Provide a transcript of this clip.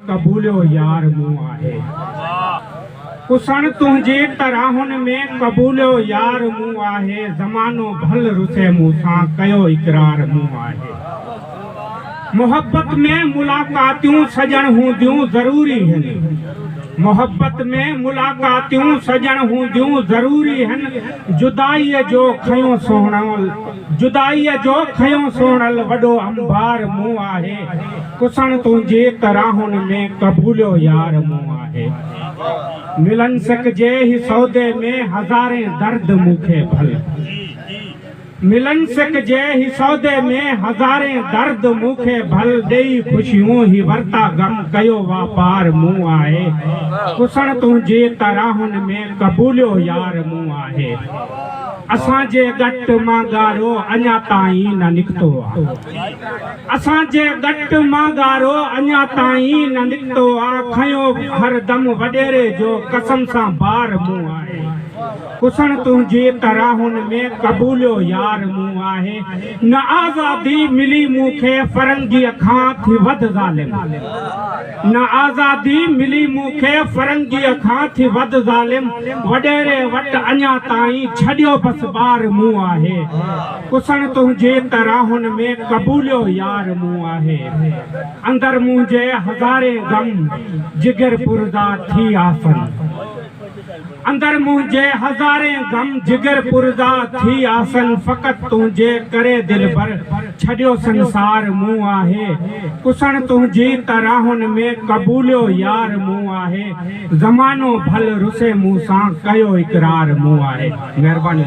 قبوليو يار مون آهي پسڻ تنهنجي تراهن ۾، قبوليو يار مون آهي زمانو ڀل رسي مون سان، ڪيو اقرار مون آهي محبت ۾ ملاقاتيون سڄڻ هونديون ضروري هن، محبت ۾ ملاقاتيون سڄڻ هونديون ضروري هن جدائيء جو کنيو سهڻول، جدائيء جو کنيو سهڻول وڏو انبار مون آهي. ڪسڻ تنهنجي ڪراهن ۾ قبوليو يار مون آهي ملن سڪ جي هي سودي ۾ هزارين درد مون کي ڀل ملن سڪ جي هي سودي ۾ هزارين درد مون کي ڀل ڏيئي خوشيون هي ورتا غم ڪيو واپار مون آهي ڪسڻ تنهنجي ڪراهن ۾ قبوليو يار مون آهي اسان جي ڳٽ مان ڳارو اڃا تائين نه نڪتو آهي. اسان جي ڳٽ مان ڳارو اڃا تائين نه نڪتو آ کنيو هر دم وڏيري جو قسم سان بار مون آهي ڪسڻ تنهنجي تراهن ۾ قبوليو يار مون آهي نه آزادي ملي مون کي فرنگيء کان ٿي وڌ ظالم نه آزادي ملي مون کي فرنگيء کان ٿي وڌ ظالم وڏيري وٽ اڃا تائين ڇڏيو بس ٻار مون آهي ڪسڻ تنهنجي ته راهن ۾ قبوليو يار مون آهي اندر منهنجي هزارين غم جگر پرزا ٿي آسن اندر منهنجي هزارين غم جگر پرزا ٿي آسن فقط تنهنجي ڪري دلبر ڇڏيو سنسار مون آهي ڪسڻ تنهنجي ته راهن ۾ قبوليو يار مون آهي زمانو ڀل رسي مون سان ڪيو اقرار مون آهي مهرباني.